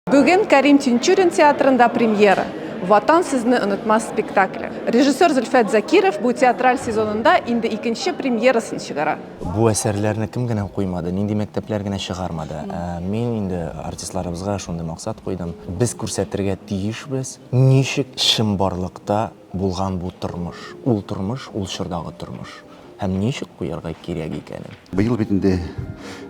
Бүген Кәрим Тинчурин театрында премьера. Ватан сезне онытмас спектакле. Режиссер Зөлфәт Закиров бу театраль сезонында инде икенче премьерасын чыгара. Бу әсәрләрне кем генә куймады, нинди мәктәпләр генә чыгармады. Ә мин инде артистларыбызга шундый максат куйдым. Без күрсәтергә тиешбез, ничек чынбарлыкта булган бу тормыш. Ул тормыш, ул чордагы тормыш. һәм ничек куярга кирәк икәнен. Быел бит инде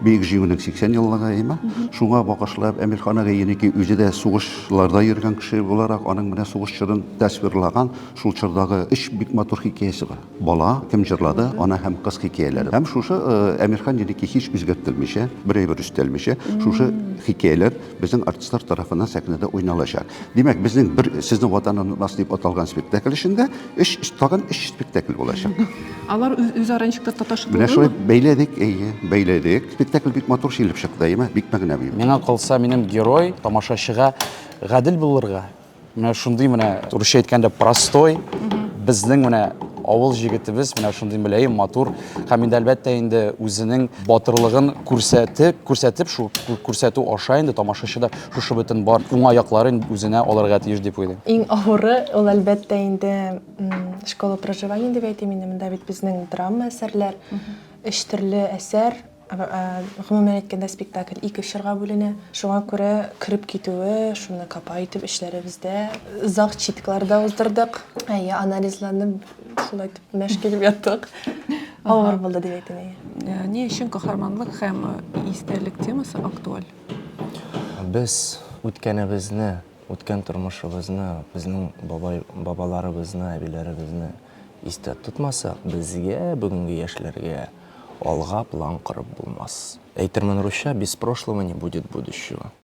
Бөек Җиңүнең 80 еллыгы, әйеме? Шуңа багышлап, Әмирхан агай Еники үзе дә сугышларда йөргән кеше буларак, аның менә сугыш чорын тасвирлаган шул чордагы өч бик матур хикәясе бар. Бала, Кем җырлады, Ана һәм кыз хикәяләре. Һәм шушы Әмирхан Еники һич үзгәртелмичә, бер әйбер өстәлмичә, шушы хикәяләр Безнең артистлар тарафыннан сәхнәдә уйналачак. Димәк, безнең бер Сезнең Ватан онытмас дип аталган спектакль эчендә өч, тагын өч спектакль булачак. Алар үз, үзара ничек тә таташып Менә шулай булдымы? бәйләдек, әйе, бәйләдек. Спектакль бик матур чилеп чыкты, әйеме? Бик мәгънәви. Миңа калса, минем герой тамашачыга гадел булырга, Менә шундый менә русча әйткәндә простой, безнең менә авыл җегетебез менә шундый мөләем, матур һәм инде әлбәттә инде үзенең батырлыгын күрсәтеп, күрсәтеп шул күрсәтү аша инде тамашачы да шушы бөтен бар уңай якларын үзенә алырга тиеш дип уйлыйм. Иң авыры ул әлбәттә инде школа проживания дип әйтим инде, монда бит безнең драма әсәрләр, өч төрле әсәр, Гомумән әйткәндә, спектакль ике чорга бүленә. Шуңа күрә кереп китүе, шуны капа итеп эшләребездә зал-читкалар да уздырдык. Әйе, анализларны шулай итеп мәш килеп яттык. Авыр булды дип әйтим, әйе. Ни өчен каһарманлык һәм истәлек темасы актуаль? Без үткәнебезне, үткән тормышыбызны, безнең бабай, бабаларыбызны, әбиләребезне истә тотмасак, безгә, бүгенге яшьләргә, Алга план корып булмас. Әйтермен русча, без прошлого не будет будущего.